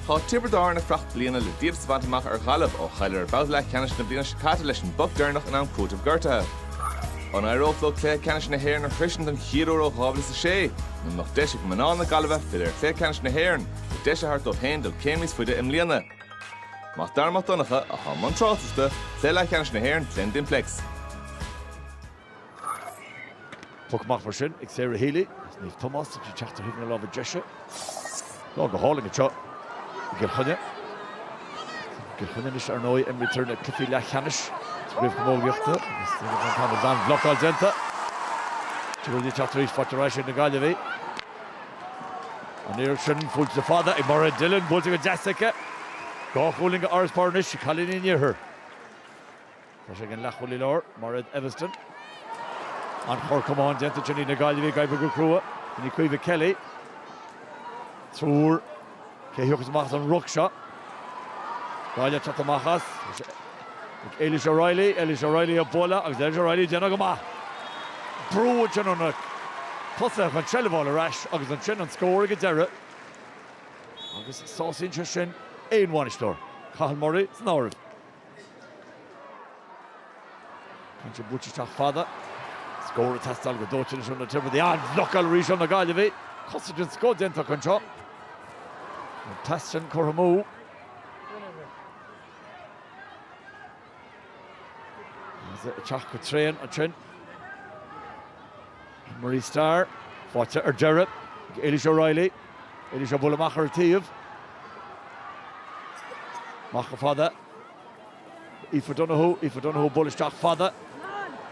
Tá Tiobraid Árann ag fuireacht bliana le díoltas a bhaint amach ar Ghaillimh ó chailleadar i mbabhta leathcheannais na bliana seo caite leis an bpoc deireanach in am cúitimh gortaithe. An éireodh leo cluiche ceannais na hÉireann a shroisint don chéad uair ó 2006? Nó an mbeadh deis ag mná na Gaillimhe filleadh ar chluiche ceannais na hÉireann, le deis a thabhairt dóibh féin dul céim níos faide i mbliana? Mac Dara Mac Donncha, atá i mbun tráchtaireachta, Cluiche Leathcheannais na hÉireann, Glen Dimplex. Poc amach mar sin ag Sarah Healy agus Niamh Tomás sa tríú teacht ar thaobh na láimhe deise. Lá go hálainn anseo i gCill Chainnigh. I gCill Chainnigh anois, ar ndóigh, imrítear na cluichí leathcheannais sa chraobh chamógaíochta agus tá an t-am is an-bhlocáil déanta. Tiobraid ag teacht ar ais, faighte arís ag na Gaillimhigh. An oiread sin, buailte le fada ag Mairéad Dillon, buailte go deas aici. Dhá chúilín d'fharasbarr anois ag cailíní an iarthair. Tá sé ag an leathchúl i lár, Mairéad Eviston. An-chorr camán déanta ansin ag na Gaillimhigh ag oibriú go crua. Sin í Caoimhe Kelly. Triúr. Cé a thiocfas amach as an ruc seo? Gaillimh teacht amach as. Ag Ailish O'Reilly. Ailish O'Reilly á bualadh agus Ailish O'Reilly ag déanamh go maith. Brú ansin ó na tosaithe chun seilbh a fháil ar ais agus ansin an scór ag an deireadh. Agus sásaíonn sé sin aon bhainisteoir, Cathal Murray san áireamh. Bíonn sé buailte isteach fada. Scór ag teastáil go dóite anois ó na Tiobradaigh. An-bhlocáil arís ó na Gaillimhigh. Cosaint den scoth déanta acu anseo. An deis sin curtha amú. Is é ag teacht go tréan ansin. Marie Starr, faighte ar deireadh ag Ailish O'Reilly. Ailish á bualadh amach ar an taobh. Amach go fada. Aoife Donohue, Aoife Donohue á bualadh isteach fada.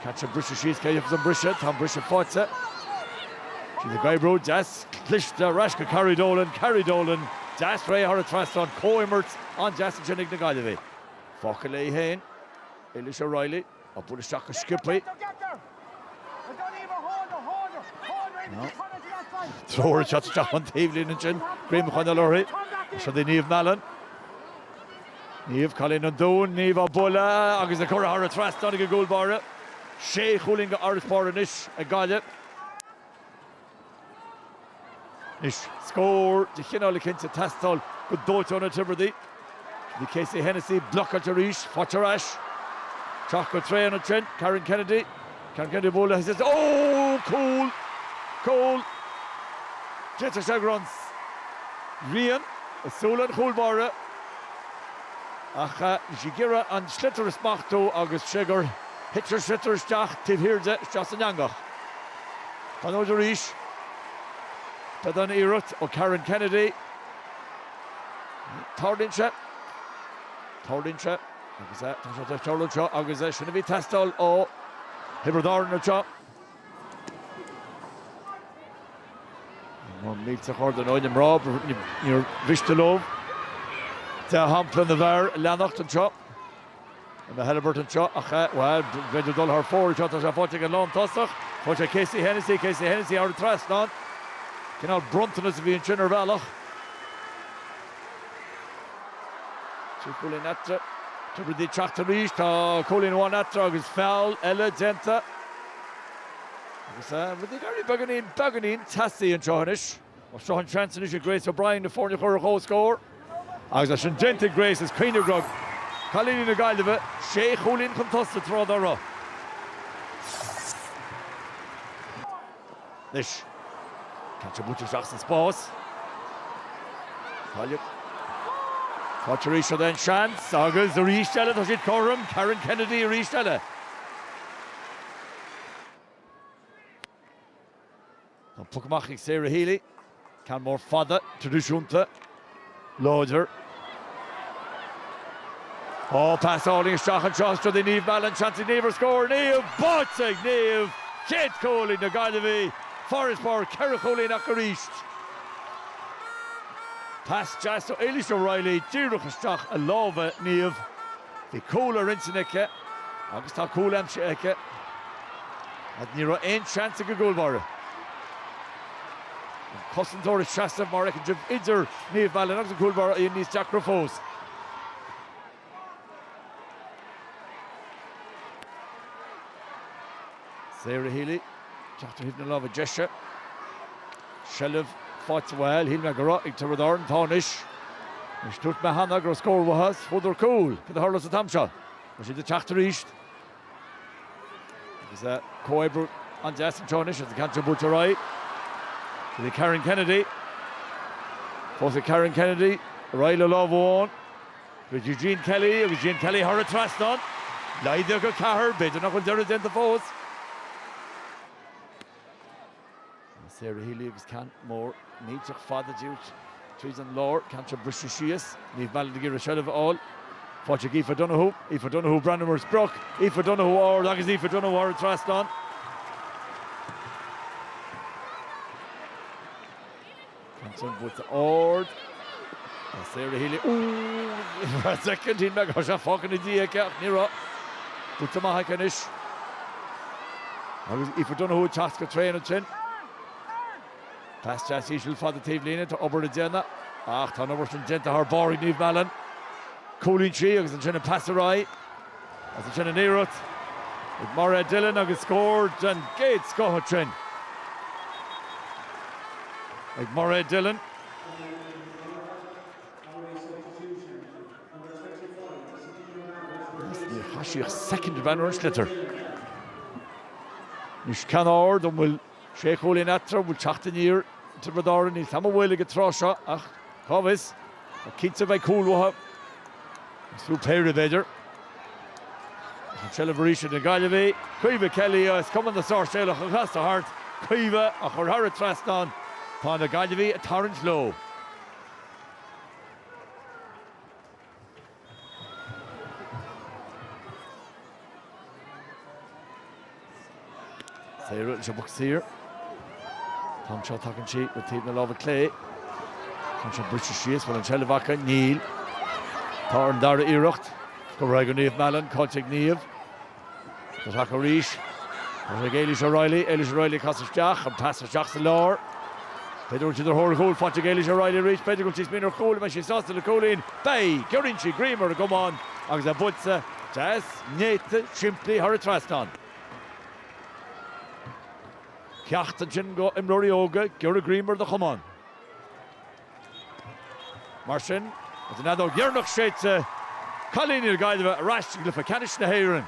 Catch an briseadh síos, cé a dhéanfas an briseadh? Tá an briseadh faighte. Siad ag oibriú, deas cliste, ar ais go Carrie Dolan, Carrie Dolan, deas réidh thar an trasnán, comhimirt an-deas ansin ag na Gaillimhigh. Fágtha léi féin, Ailish O'Reilly. Á bualadh isteach go sciobthaí. Treoir ag teacht isteach ón taobhlíne ansin, greim a choinneáil uirthi. Siúd í Niamh Mallon. Niamh, cailín an Dúin, Niamh á bualadh agus curtha thar an trasnán ag an gcúl báire. Sé chúilín d'fharasbarr anois ag Gaillimh. Anois scór de chineál eicint ag teastáil go dóite ó na Tiobradaigh. Bhí Casey Hennessy blocáilte arís. Faighte ar ais. Teacht go tréan ansin, Karen Kennedy. Karen Kennedy á bualadh is oh! Cúl! Cúl! D'fhéadfadh sé go raibh an ghrian i súile an chúl báire ach bhí sí ag iarraidh an sliotar a smachtú agus cé gur thit an sliotar isteach taobh thiar de, isteach san eangach. An fhód arís ba dána an iarracht ó Karen Kennedy. Tarlaíonn sé. Tarlaíonn sé. Agus é. Tá sé de cheal anseo agus é sin a bhí teastáil ó Thiobraid Árann anseo. An mílte chor den fhód i mná. Níor mhiste leo dea-shampla na bhfear a leanacht anseo. An bhfuil Halliburt anseo? Ach, bhuel, b'fheidir dul thar fóir anseo, tá sé faighte ag an lán tosach. Chonaic sé Casey Hennessy, Casey Hennessy thar an trasnán. Cineál bronntanas a bhí ansin ar bhealach. Trí chúilín eatarthu. Tiobraid Árann ag teacht arís, tá cúilín amháin eatarthu agus feall eile déanta. Agus rud éigin beagáinín, beagáinín teasaí anseo anois. Seo an seans anois ag Grace O'Brien na foirne a chur ar chomhscór. Agus é sin déanta ag Grace, is cuimhnigh go raibh cailíní na Gaillimhe sé chúilín chun tosaigh tráth dá raibh. Anois, ceann seo buailte isteach sa spás. Gaillimh. Faighte arís an seans agus arís eile tá siad cothrom, Karen Kennedy arís eile. Tá an poc amach ag Sarah Healy. Ceann mór fada, tradisiúnta, láidir. Ó, pas álainn isteach anseo anois go dtí Niamh Mallon. Seans ag Niamh ar scór. Niamh! Báite ag Niamh! Chéad chúl ag na Gaillimhigh. Farasbarr ceithre chúilín acu arís. Pas deas ó Ailish O'Reilly díreach isteach i lámha Niamh. Bhí cúl ar intinn aici agus tá cúl aimsithe aici ach ní raibh aon seans ag an gcúl báire, an cosantóir ag seasamh mar fheiceann sibh idir Niamh Mallon agus an cúl báire í níos deacra fós. Sarah Healy, teacht ó thaobh na láimhe deise. Seilbh faighte bhuel, shíl mé go raibh ag Tiobraid Árann tá anois. Is dúirt mé cheana go raibh scór uathu is fuaireadar cúl, cad a tharlós an t-am seo? Tá siad ag teacht arís agus comhoibriú an-deas anseo anois agus an ceann seo buailte ar aghaidh go dtí Karen Kennedy, fós í Karen Kennedy ar aghaidh le lámh amháin. Go dtí Jean Kelly agus Jean Kelly thar an trasnán. Laghdaíodh go ceathair, b'fhéidir nach bhfuil deireadh déanta fós. Sarah Healy agus ceann mór millteach fada díreach tríd an lár, ceann seo briste síos, Niamh Mallon ag iarraidh seilbh a fháil. Faighte ag Aoife Donohue. Aoife Donohue breathnú ar an sprioc. Aoife Donohue ard agus Aoife Donohue thar an trasnán. Ansin buailte ard ag Sarah Healy. Ar feadh soicind cheap mé go raibh sé fágtha ina diaidh aici ach ní raibh. Buailte amach aici anois agus Aoife Donohue ag teacht go tréan ansin. Pas deas íseal fada taobhlíne, tá obair le déanamh ach tá an obair sin déanta thar barr ag Niamh Mallon. Cúlaíonn sí agus ansin an pas ar aghaidh. Is ansin an iarracht ag Mairéad Dillon agus scór den gcéad scoth ansin ag Mairéad Dillon. Agus níor chaith sí ach soicind amháin ar an sliotar. Anois ceann ard, an bhfuil. Sé chúilín eatarthu, an bhfuil teacht aniar ag Tiobraid Árann? Níl an chuma go bhfuil ag an tráth seo ach cá bhfios? Ach cinnte beidh cúl uathu, agus fiú péire b'fhéidir. Ach an tseilbh arís ag na Gaillimhigh. Caoimhe Kelly, as Cumann na Sáirséalach ag casadh thart, Caoimhe á chur thar an trasnán. Tá na Gaillimhigh ag tarraingt leo. Sarah leis an bpoc saor. An t-am seo tagann sí go taobh na láimhe clé. Tá sé briste síos. Bhfuil an tseilbh aca? Níl. Tá ar an dara iarracht. Curtha ar aghaidh go Niamh Mallon. Caillte ag Niamh. Ach tógtha arís ag Ailish O'Reilly. Ailish O'Reilly ag casadh isteach. An pas isteach sa lár. B'fhéidir go bhfuil siad ar thóir cúil, faighte ag Ailish O'Reilly arís. B'fhéidir go bhfuil sí ag smaoineamh ar chúl. An mbeidh sí sásta le cúilín? Beidh! Giorraíonn sí greim ar an gcamán agus é buailte. Deas, néata, simplí thar an trasnán. Ceacht ansin go imreoirí óga, giorraigh greim ar do chamán. Mar sin, is an fheadóg dheireanach séidte, cailíní na Gaillimhe ar ais i gcluiche ceannais na hÉireann!